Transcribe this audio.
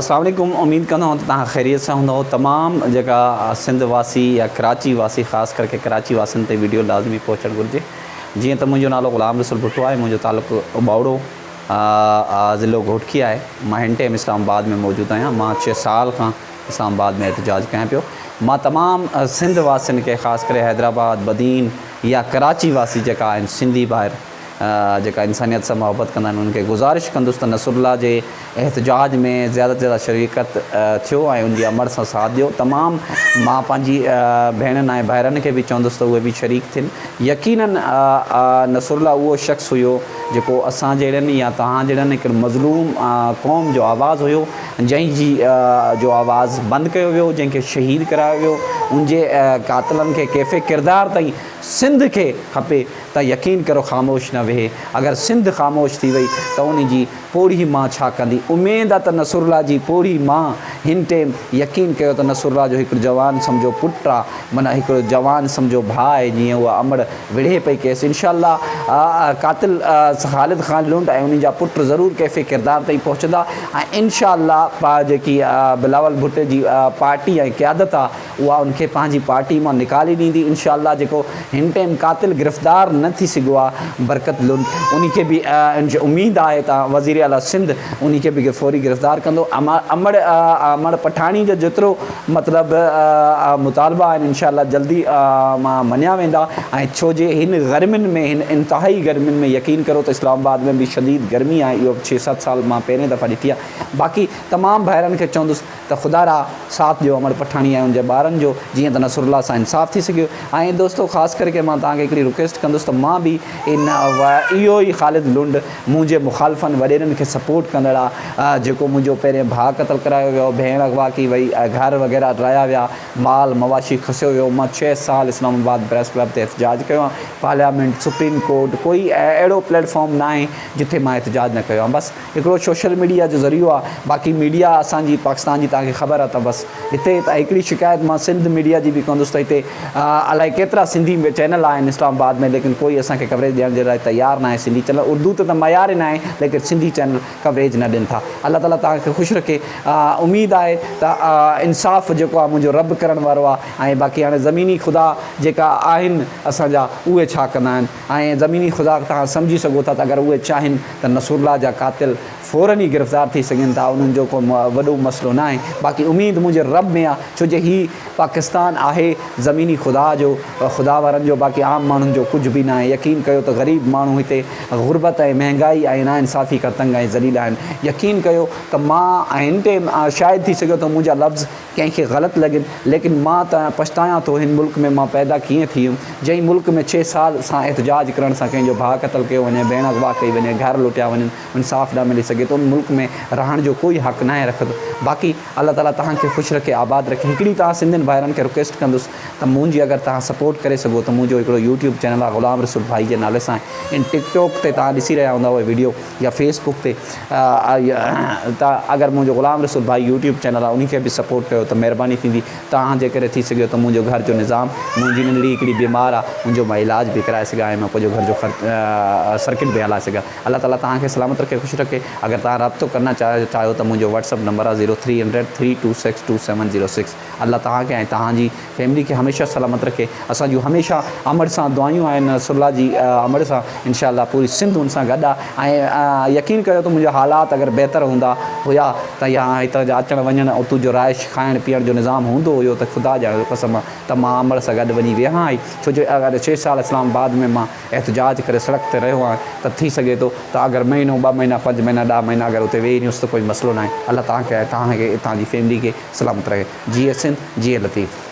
السلام عليڪم اميد ڪندو ته توهان خيريت سان هوندؤ تمام جيڪا سنڌ واسي يا ڪراچي واسي خاص ڪرڪي ڪراچي واسين تي ويڊيو لازمي پهچڻ گهرجي جيئن ته منهنجو نالو غلام رسول ڀٽو آهي منهنجو تعلق ٻاوڙو ضلعو گهوٽڪي آهي مان هن ٽيم اسلام آباد ۾ موجود آهيان مان چھ سال کان اسلام آباد ۾ احتجاج ڪيان پيو مان تمام سنڌ واسين کي خاص ڪري حيدرآباد بدين يا ڪراچي واسي جيڪا آهن سنڌي ڀائر جيڪا انسانيت سان محبت ڪندا آهن انهن کي گذارش ڪندس ته نصرالله جي احتجاج ۾ زياده تي زياده شريڪت ٿيو ۽ ان جي امڙ سان ساٿ ڏيو تمام مان پنهنجي ڀيڻن ۽ ڀائرن کي به چوندس ته اهي به شريڪ ٿين يقينا نصرالله اهو شخص هيو جيڪو اسان جهڙن يا توهان جهڙن هڪڙي مظلوم قوم جو آواز هيو جنهن جي جو آواز بند ڪيو ويو جنهن کي شهيد ڪرايو ويو ان جي قاتلن کي ڪيفي ڪردار تائين سنڌ کي کپي ته يقين ڪرو خاموش نه ويهي، اگر سنڌ خاموش ٿي وئي ته انهي جي پوڙهي مان ڇا ڪندي؟ اميد آ ته نصرالله جي پوڙهي مان هن ٽيم يقين ڪيو ته نصرالله جو هڪڙو جوان سمجهو پٽ آ، معنيٰ هڪڙو جوان سمجهو ڀاء آهي جيئن اها امڙ وڙهي پئي ڪيس انشاء الله قاتل خالد خان لنڊ ۽ انهي جا پٽ ضرور ڪيفي ڪردار تائين پهچندا ۽ انشاء الله جيڪي بلاول ڀٽي جي پارٽي ۽ قيادت آ اها ان کي پنهنجي پارٽي مان نڪالي ڏيندي انشاء الله جيڪو هن ٽيم قاتل گرفتار نه ٿي سگهيو آهي برڪت لوڌ انهي کي به انج اميد آهي ته وزير اعليٰ سنڌ انهي کي به فوري گرفتار ڪندو امڙ امڙ پٺاڻي جا جيترو مطلب مطالبا آهن انشاء الله جلدي مان مڃيا ويندا ۽ ڇو جي هن گرمين ۾ هن انتهائي گرمين ۾ يقين ڪرو ته اسلام آباد ۾ به شديد گرمي آهي اهو ڇهه ست سال مان پهرين دفعا ڏٺي آهي باقي تمام ڀائرن کي چوندس ته خدا را ساٿ ڏيو امڙ پٺاڻي ۽ ان جي ٻارن جو جيئن ته نصر الله سان انصاف ٿي سگهيو ۽ دوستو خاص ڪري ڪي مان توهان کي هڪڙي رڪويسٽ ڪندس ته مان به ان اهو ئي خالد لنڊ منهنجي مخالفن وڏيرن کي سپورٽ ڪندڙ آ جيڪو منهنجو پهرين ڀاء قتل ڪرايو ويو ڀيڻ اغوا ڪئي وئي گهر وغيره ڊرايا ويا مال مواشي کسيو ويو مان ڇهه سال اسلام آباد پريس ڪلب تي احتجاج ڪيو آ پارليامينٽ سپريم ڪورٽ ڪوئي اهڙو پليٽ فارم ناهي جتي مان احتجاج نه ڪيو آ بس هڪڙو سوشل ميڊيا جو ذريعو آ باقي ميڊيا اسان جي پاڪستان جي توهان کي خبر آ ته بس هتي هڪڙي شڪايت مان سنڌ ميڊيا جي به ڪندس ته هتي الائي ڪيترا سنڌي چينل آهن اسلام آباد ۾ ليڪن ڪوئي اسان کي ڪوريج ڏيڻ جي لاء تيار ناهي سنڌي چينل اردو ته ته معيار ئي ناهي ليڪن سنڌي چينل ڪوريج نه ڏين ٿا الله تعالي توهان کي خوش رکي اميد آهي ته انصاف جيڪو آ منهنجو رب ڪرڻ وارو آ ۽ باقي هاڻي زميني خدا جيڪا آهن اسان جا اهي ڇا ڪندا آهن. ۽ زميني خدا توهان سمجهي سگهو ٿا ته اگر اهي چاهين ته نصرالله جا قاتل فورن ئي گرفتار ٿي سگهن ٿا انهن جو ڪو وڏو مسئلو ناهي باقي اميد منهنجي رب ۾ آ ڇو جو هي پاڪستان آهي زميني خدا جو خدا وارن جو باقي عام ماڻهن جو ڪجهه به ناهي يقين ڪيو ته غريب ماڻهو هتي غربت ۽ مهنگائي ۽ ناانصافي کان تنگ ۽ ذليل آهن يقين ڪيو ته مان هن تي شاهد ٿي سگهيو ٿو منهنجا لفظ ڪنهن کي غلط لڳين ليڪن مان ته پڇتايان ٿو هن ملڪ ۾ مان پيدا ڪيئن ٿي ويم جنهن ملڪ ۾ ڇهه سال سان احتجاج ڪرڻ سان ڪنهن جو ڀاء قتل ڪيو وڃي ڀيڻ اغوا ڪئي وڃي گهر لٽيا وڃن انصاف نه ملي سگهي ته ان ملڪ ۾ رهڻ جو ڪوئي حق ناهي رکندو باقي الله تعالي توهان کي خوش رکي آباد رکي هڪڙي توهان سنڌين ڀائرن کي رڪويسٽ ڪندس ته منهنجي اگر توهان سپورٽ ڪري سگهو ته منهنجو هڪڙو يوٽيوب چينل آهي غلام رسول ڀائي جي نالي سان آهي ان ٽڪ ٽوڪ تي توهان ڏسي رهيا هوندا اهي ويڊيو يا فيس بڪ تي ته اگر منهنجو غلام رسول ڀائي يوٽيوب چينل آهي انهي کي به سپورٽ ڪيو ته مهرباني ٿيندي توهان جي ڪري ٿي سگهيو ته منهنجو گهر جو نظام منهنجي ننڍڙي هڪڙي بيمار آ ان جو مان علاج به ڪرائي سگهان ۽ مان پنهنجو گهر جو خرچ سرڪٽ به هلائي سگهان الله تعالي توهان کي سلامت رکي خوش رکي اگر توهان رابطو ڪرنا چاهيو ته منهنجو واٽس اپ نمبر آ zero three hundred three two six two seven zero six. الله توهان کي ۽ توهان جي فيملي کي هميشه سلامت رکي اسان جون هميشه امڙ سان دعايون آهن نصر الله جي امڙ سان انشاء الله پوري سنڌ ان سان گڏ آهي ۽ يقين ڪريو ته منهنجا حالات اگر بهتر هوندا هيا ته يا هتان جا اچڻ وڃڻ اتو جو رهائش کائڻ پيئڻ جو نظام هوندو هيو ته خدا جا قسم ته مان امڙ سان گڏ وڃي ويهان هائي ڇو جو اگر ڇهه سال اسلام آباد ۾ مان احتجاج ڪري سڙڪ تي رهيو آهيان ته ٿي سگهي ٿو ته اگر مهينو ٻه مهينا پنج مهينا ڏهه مهينا اگر اتي ويهي رهيونس ته ڪوئي مسئلو ناهي الله توهان کي ۽ توهان کي اتان جي فيملي کي سلامت رکي جيئي سنڌ جيئي لطيف.